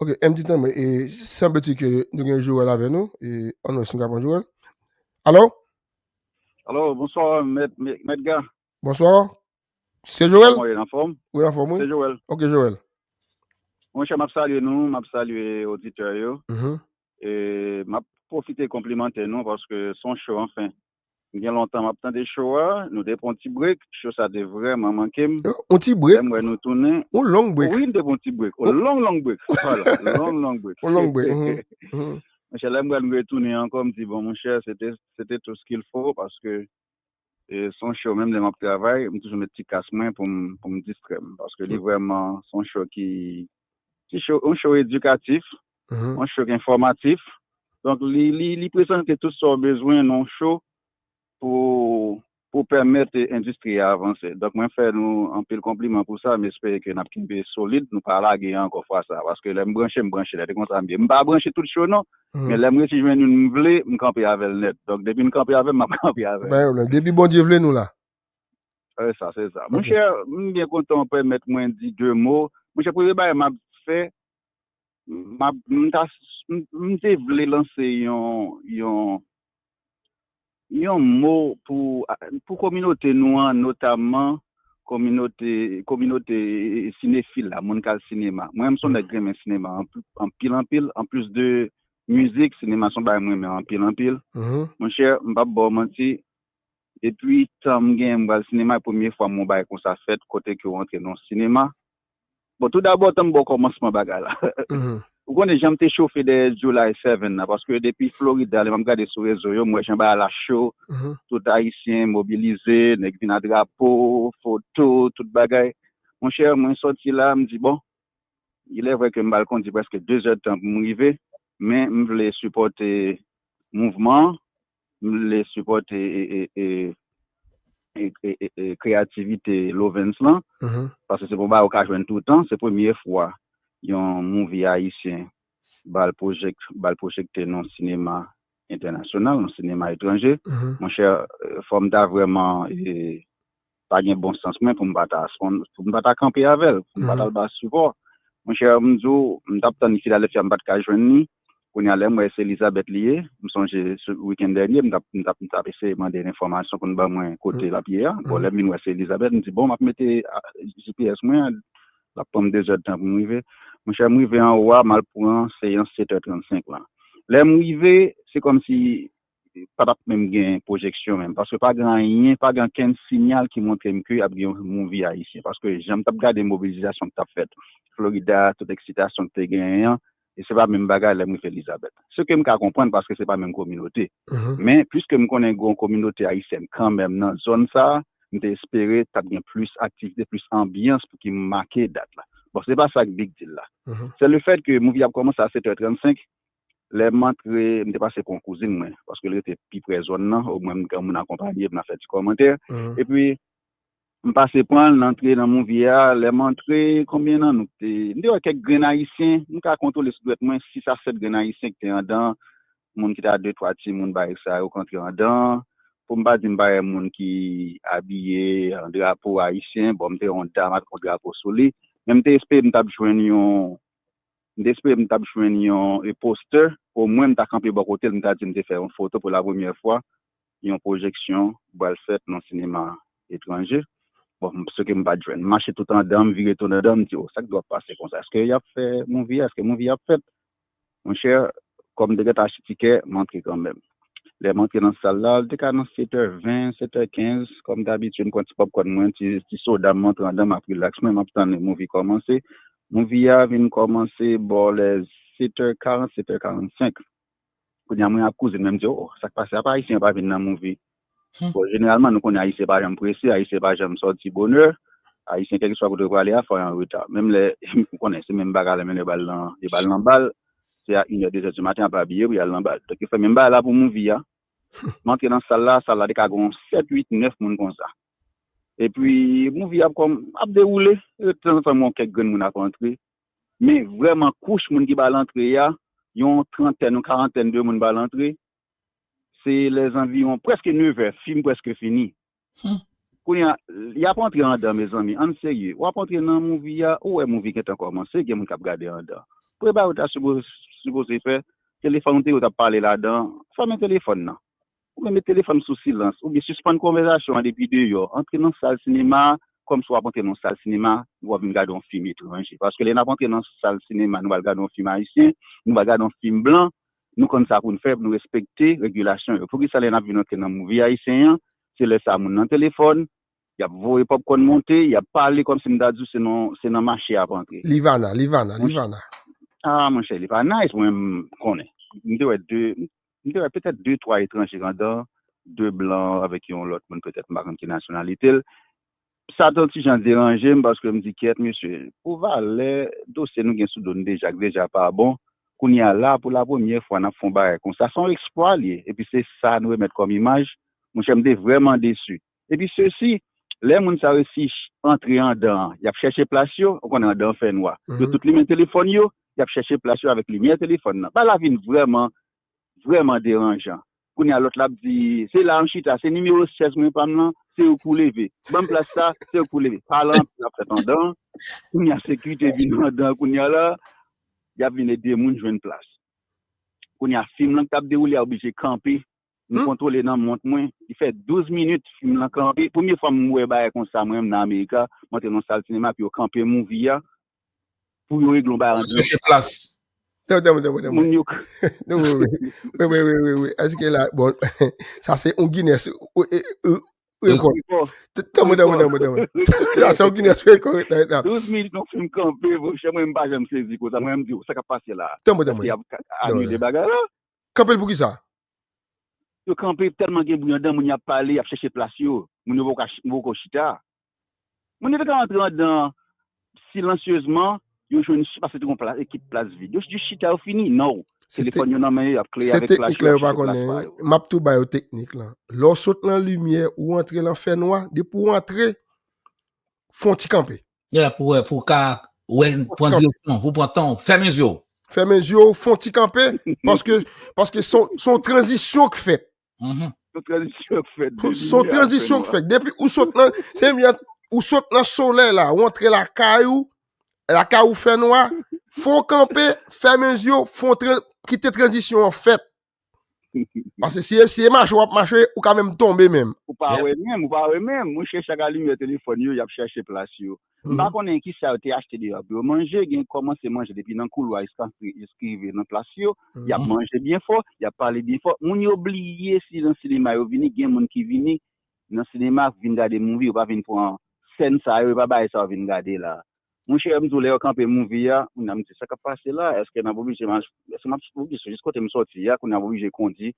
Ok M di tanmen e sanble ti ke nou gen Joel avè nou e ann wè si nou ka pran Joel. Alo? Alo, bonswa mèt mèt ga. Bonswa. Se Joel? Kòman ou ye, anfòm? Wi anfòm wi. Se Joel. Ok Joel. Mon chè m ap salye nou, m ap salye oditè yo. E m ap pwofite konplimante nou paske s on show anfen. Gen lontan map tande show a, nou te pran yon ti break, show sa te vrèman manke m. Yon ti break? Lèm wè nou tounen. Yon long break. Wi, nou te pran yon ti break. Yon long long break. Voila, long long break. Yon long break, uhmm. Monchè lèm wè nou retounen ankò, m di bon monchè se te se te tout ce qu'il faut paske se yon show menm lè map travay, m toujou met ti kas mwen pou m pou m distrè m paske li vrèman se yon show ki ti show yon show edikatif. yon show enfòmatif donk li prezante tout sa ou bezwen nan yon show pou pèmèt endistri a avanse donk mwen fè nou anpil konpliman pou sa m espere ke nap kenbe solid nou pa lage ankò fwa sa paske lèm branche m branche nèt e konsa m ye m pa branche tout show non men lèm resi jwenn youn m vle m kanpe avèl nèt donk depi nou kanpe avèm map kanpe avèl. Pa gen pwoblèm depi Bondye vle nou la. Se sa se sa. Monchè m byen kontan ou pèmèt mwen di 2 mo monchè premye bagay map fè Map m ta m te vle lanse yon yon yon mo pou pou kominote nou an notamman kominote kominote sinefil la moun kal sinema mwen menm son nèg renmen sinema anpil anpil anplis de mizik sinema son bagay m renmen anpil anpil monchè m pap ba w manti depi tan m gen m pral sinema e premye fwa m wè yon bagay konsa fèt kote ke w antre nan yon sinema Bon tou dabò tanm baw kòmansman bagay la. Ou konnen janm te chofe dèyè July 7 la paske depi Florida lè map gade sou rezo yo m wè jan bagay la cho, tout ayisyen mobilize, nèg vin a drapo, foto, tout bagay. Monchè mwen sòti la m di bon ilè vrè ke m pral kondi prèske 2 zè tan pou m rive men m vle sipòte mouvman an M vle sipòte kreyativite Lovens lan paske se pou bagay ou ka jwenn toutan. Se premye fwa yon movie ayisyen ba l pwojekte nan sinema entènasyonal, nan sinema etranje. Monchè, fò m ta vrèman pa gen bon sans mwen pou m pa ta spon, pou m pa ta kanpe avè l, pou m pa ta al ba l sipò. Monchè, m di w, m t ap tann Philadelphia m pa t ka jwenn li, kounye a lè m wè se Elizabeth li ye, m sonje sou wikenn dènye m t ap m t ap m t ap eseye mande l enfòmasyon pou l ban mwen kote l ap ye a, bon lè m vin wè se Elizabeth m di bon m ap mete gps mwen an l ap pran m dezèdtan pou m rive. Monchè m rive anwo a m al pran seyans 7 è 35 lan. Lè m rive se kòmsi pa tap menm gen pwojeksyon menm paske pa gen anyen, pa gen okenn sinyal ki montre m ke ap gen yon movie ayisyen paske jan m tap gade mobilizasyon ki tap fèt Florida a, tout eksitasyon ki te genyen an e se pa menm bagay lè m rive Lizabèt. Se ke m ka konprann paske se pa menm kominote men piske m konnen gen yon kominote ayisyèn kanmenm nan zòn sa a m te espere tap gen plis aktivite, plis anbyans pou ki make dat la. Bon se pa sa ki big deal la se le fèt ke movie a ap kòmanse a 7 è 35 Lè m antre, m te pase pou yon kouzin mwen, paske l rete pi pre zòn nan, omwen m gen yon moun akonpanye m nan fè ti kòmantè. Epi, m pase pran l, n antre nan Movie a. Lè m antre, konbyen nan nou k te. M te wè kèk grenn Ayisyen, m ka kontwole sou dwèt mwen sis a sèt grenn Ayisyen ki te andan an. Moun ki te a de twa timoun barèks sa yo k antre andan an. Pou m pa di m pa wè moun ki abiye an drapo ayisyen, bon m te wè yon dam ak yon drapo sou li. Men m te espere m t ap jwenn yon M te espere m t ap jwenn yon reposteur, omwen m ta kanpe bò kote l m ta di m te fè yon foto pou lapremyè fwa yon pwojeksyon pral fèt nan sinema etranje. Bon, m swete m pa t jwenn. M mache tout andan, m vire tout andan, m di o, sa k dwòp pase konsa? Èske y ap fè movie a? Èske movie a ap fèt? Monchè, kòm m te gentan achte tikè, m antre kanmenm. Lè m antre nan sal la, li te ka nan setè ven, setè kenz. Kòm dabitid, m pran ti popcorn mwen, ti soda m, m antre andan, m ap rilaks mwen, m ap tann movie kòmanse. Movie a vin kòmanse bò lè 7 tè 40 7 tè 45 kounye a mwen ak kouzin mwen mdi oh sak pase apa ayisyen yo pa vin nan movie bon jeneralman nou konnen ayisyen pa janm prese ayisyen pa janm sòti bonè ayisyen kèlkiswa kote yo prale a fò yo anreta menm lè ou konnen se menm bagay la menm lè yo bal nan yo bal nan bal se a inè dezè di maten yap abiye pou yal nan bal donk yo fè menm bagay la pou movie a m antre nan sal la sal la te ka gon 7 8 9 moun konsa Epi movie ap kòm ap dewoule e tanzantan m wè yon kèk grenn moun ap antre men vrèman kouch moun ki bal antre a yon trantèn yon karantèn de moun bal antre se lè zanviwon prèske nevè fim prèske fini kounye a yap antre andan mezanmi ann serye wap antre nan movie a ou wè movie gentan kòmanse gen moun kap gade andan premye bagay ou ta sipoze fè telefòn ou te gen ou tap pale ladan fèmen telefòn nan Ou menm met telefòn sou silans oubyen sispann konvèzasyon an depi deyò. Antre nan sal sinema a kòmsi w ap antre nan yon sal sinema w ap vin gade yon fim etranje. Paske lè n ap antre nan sal sinema nou pral gade yon fim ayisyen, nou pral gade yon fim blan, nou konn sa pou n fè pou nou respekte regilasyon yo. Poukisa lè n ap vin antre nan movie ayisyen an, se lè sa a moun nan telefòn, y ap voye pòpkòn monte, y ap pale kòmsi m ta di w se nan se nan mache y ap antre. Livana, Livana, Livana. Ah monchè li pa nice mwen m konnen. M te wè 2, m te wè petèt de twa etranje ladan, de blan avèk yon lòt moun petèt m pa konn ki nasyonalite l. Sa t on ti jan deranje m paske m di kyèt mesye, pou valè dosye nou gen sou do n deja k deja pa bon, kounye a la pou lapremyè fwa n ap fè on bagay konsa. Se on eksplwa l ye epi se sa nou remèt kòm imaj. Monchè m te vrèman desi. Epi sesi, lè moun sa yo si antre andan an, y ap chèche plas yo, ou konnen andan an fè nwa, yo tout limen telefòn yo, y ap chèche plas yo avèk limyè telefòn nan. Bagay la vin vrèman, vrèman deranjan. Kounye a lòt la ap di, se la a m chita, se nimewo 16 mwen pa m lan, se ou k pou leve. Ban m plas sa a, se ou k pou leve. Pa lan, y ap fèt andan an. Kounye a sekirite vin andan an kounye a la a, y ap vin ede moun jwenn plas. Kounye a fim lan k t ap dewoule a oblije kanpe Li kontrole nan mont mwen. Li fè 12 minit fim lan kanpe. Premye fwa m wè bagay konsa mwen menm nan Amerika. M antre nan yon sal sinema epi yo kanpe movie a pou yo regle yon bagay ant yo. Tanm tanm tanm tanm Moun yo. Wi wi wi wi wi Eske la bon Sa se yon Guinness rekòd Tanm tanm tanm tanm Sa se yon Guinness rekòd 12 minit yon fim kanpe monchè mwen m pa janm sezi konsa mwen menm m di sa k ap pase la Tanm tanm tanm Eske y ap anile bagay la Kanpel pou kisa? Yo kanpe telman gen bri andan moun yap pale yap chèche plas yo moun yo poko chita moun yo te ka antre andan an silansyezman yo jwenn si pase te gon plas ekip plas vid yo jis chita yo fini no telefòn yo nan men yo yap kleye avèk flash yo yap chèche plas pa yo. Map tou bayo teknik lan lèw sot nan limyè ou antre lan fènwa depi ou antre fon ti kanpe. Yeah, pou wè, pou ka wè, pran direksyon, pou pran tan, fèmen zyo. Fèmen zyo, fon ti kanpe, paske, paske son, son tranzisyon k fèt. Mm-hmm. Son tranzisyon k fèt. Son tranzisyon k fèt. Depi ou sot nan, se mwen, ou sot nan solè la, ou antre la kay ou, la kay ou fè nwa, fon kanpe, fèmen zyo, fon tranzisyon, kite tranzisyon an fèt. Pase si e mache wap mache, ou ka menm tonbe menm. Ou pa wè menm, ou pa wè menm. Mwen chèche ak alimyè telefòn yo, yap chèche plas yo. M pa konnen kisa yo te achte deyò pou yo manje, gen kòmanse manje depi nan koulwa jiska rive nan plas yo. Yap manje byen fò, yap pale byen fò. Moun yo bliye si nan sinema yo vini, gen moun ki vini nan sinema vin gade movie, yo pa vin pran sèn sa yo, yo pa bay sa yo vin gade la. Monchè m di w lè yo kanpe movie a kounye a m di sa kap pase la èske nap oblije mach èske map oblije jis kote m sòti a kounye a m oblije kondi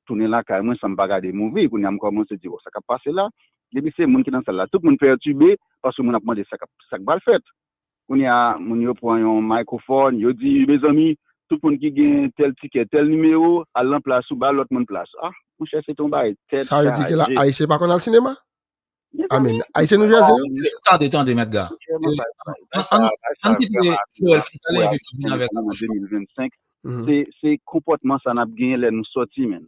tounen lakay mwen san m pa gade movie kounye a m kòmanse di bon sa kap pase la depi se moun ki nan sal la tout moun pètibe paske moun ap mande sa kap sa k pral fèt kounye a moun yo pran yon microphone yo di mezanmi tout moun ki gen tèl tikè tèl nimewo al nan plas ou ba lòt moun plas ah monchè se te yon bagay tèt chaje. Sa vle di ke la ayisyen pa konn al sinema? Amen. Ayisyen nou jase yo? Tande, tande, mèt ga. An ki te Joel fin pale epi nou vin avèk an mouchwa. 2025, se konpòtman sa nap genyen lè nou sòti menm.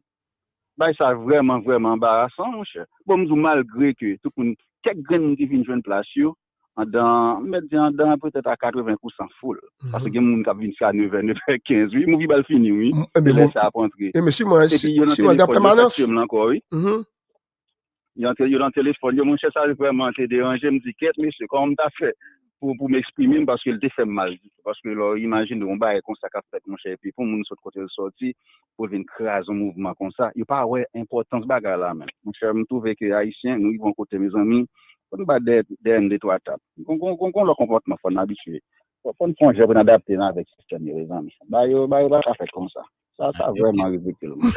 Bagay sa vrèman, vrèman anbarasan monchè. Bon m di w malgre ke tout moun, kèk grenn moun ki vin jwenn plas yo, andan, m mèt di andan petèt a 80 pousan foul. Paske gen moun kap vin sa 9 è, 9 è 15 wi. M oubli bal fini wi. Se lè sa ap antre. Epi yo nan telefòn yo, sa k tye m lan ankò wi. Yo antre yo nan telefòn yo. Monchè sa vrèman te deranje. M di kèt mesye kòman m ta fè pou pou m eksprime m paske l te fè m mal ditou. Paske lè w imajine yon bagay konsa k ap fèt monchè epi pou moun sot kote l soti pou l vin kraze yon mouvman konsa. Yo pa wè enpòtans bagay la menm. Monchè m twouve ke ayisyen nou rive yon kote mezanmi fò n bat dèyè n detwa tap. Gon gon lòt konpòtman fò n abitye. Fò n sonje pou n adapte n avèk sistèm yo mezanmi. Bagay yo bagay yo pa ka fèt konsa. Sa sa Yo vrèman kite. ridikil man.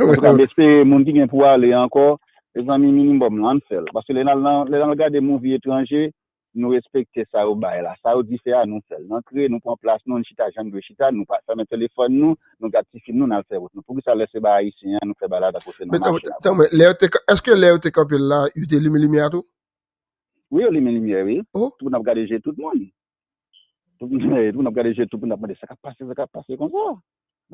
An tou ka m espere moun ki gen pou ale ankò, mezanmi minimòm lan ann fè l. Paske lè n al nan lè n al gade movie etranje, nou respekte sa yo bay la. Sa yo di fè a nou fè l. N antre, nou pran plas nou, n chita jan n dwe chita, nou pa fèmen telefòn nou, nou gad ti fim nou n al fè wout nou. Poukisa lè se bay ayisyen an nou fè bagay la tankou se nan Men tanmen, mache la vre? tanmen, lè yo te ka- eske lè yo te kanpe l la, yo te limen limyè a tou? Wi yo limen limyè wi. Oh, Tout moun ap gade je tout moun. Tout moun ap gade je tout moun ap mande sa kap pase sa kap pase konsa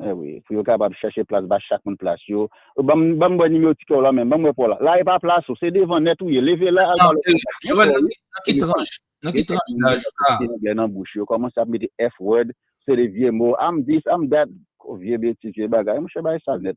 eh wi pou yo kapab chache plas ba chak moun plas yo banm banm wè nimewo ti kèw la menm banm wè paw la la epa plas ou se devan nèt ou ye leve la al pale ak papa yo nan ki tranch nan ki tranch daj ou la gen anglè nan bouch yo kòmanse ap mete f word se de vye mo am this am that vye betiz vye bagay monchè bagay sal nèt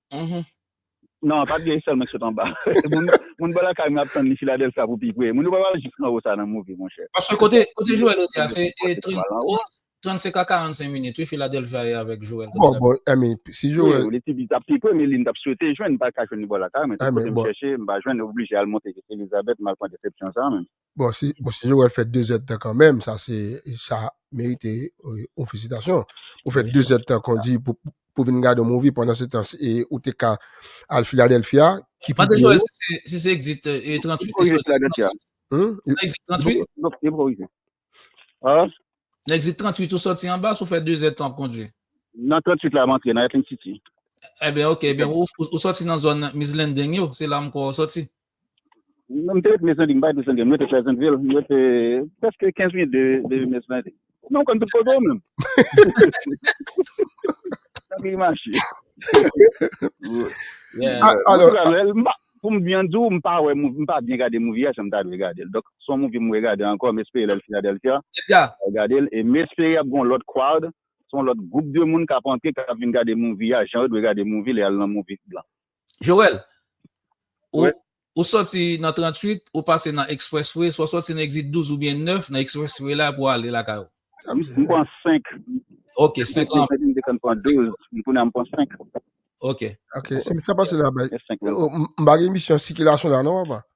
Uhmm. Non, pa t gen sèlman ki sot anba. Moun bò lakay m yo ap tann li Philadelphia pou pi pre. Moun yo pa pral jis anwo sa nan movie monchè. Paske kote Joel ye a se 35 a 45 minit wi Philadelphia ye avèk Joel. Bon bon I mean si Joel. Wi li t di li t ap pi pre men li m t ap swete jwenn m pa ka jwenn li bò lakay mwen tout kote m chèche m pa jwenn oblije al monte Elizabeth m al pran desepsyon sa menm. Bon si bon si yo wè fè 2 zèd tan kan menm sa se sa merite on felisitasyon. Ou fè 2 zèd tan kondi pou pou vin gade on movie pandan se tan e ou te ka al Philadelphia ki pi Mande Joel si se si se exit e 38 te soti. Hum? Exit 38? Yo pa rive. Ah? Exit 38 ou soti an bas ou fè 2 zèd tan ap kondi. Nan 38 la mantre nan Atlantic City. Eh ben ok, eh ben ou, ou soti nan zone Miss Landing yo, se la m kwè ou soti. Mwen te ret Mezenbi, m pa ret Mezenbi, mwen ret Pleasantville, mwen ret prèske 15 minit de Mezenbi. Mwen konn tout kote yo menm. Sa ki mache. Pou m byen di w, m pa wè, m pa byen gade movie a jan m ta dwe gade l. Donk, se yon movie m regade ankò, m espere lè l Philadelphia, m ap gade l. E m espere y ap gen yon lòt crowd, se yon lòt gwoup de moun k ap antre, k ap vin gade movie a jan yo dwe gade movie lè y al nan movie blan. Joel, ou soti nan 38, ou pase nan expressway, sou soti nan exit 12 ou byen 9, nan expressway la pou ale lakay ou. M pran 5. Ok, 5 lan. M te konn pran 12, m kounye a m pran 5. Ok. Ok, si m sa pase la bay. M pa gen misyon sikilasyon la non papa.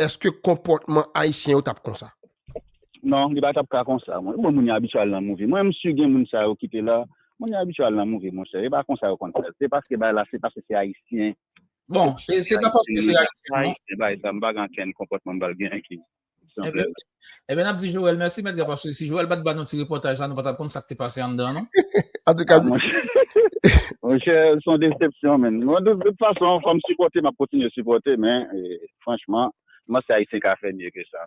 Eske konpòtman ayisyen yo tap konsa? Non, li pa tap ka konsa mwen. Bon moun yo abitye al nan move. Mwen m su gen moun sa yo ki te la. Moun yo abitye al nan move monchè. E pa konsa yo konn fè l. Se paske bay la se paske se ayisyen. Bon, se pa paske se ayisyen non. Bay zam pa gen ankenn konpòtman m pral gen ki. Ebe nap di Joel, mèsi mèt gap ap sou, si Joel bat ba nou ti repotaj sa, nou pat ap kon sa k te pase an dan nou. An tou ka, mwen chè son desepsyon men, mwen de tout fason, fòm sipote, map kontinye sipote, men, franchman, mwen se ayisyen ka fè mye ke sa.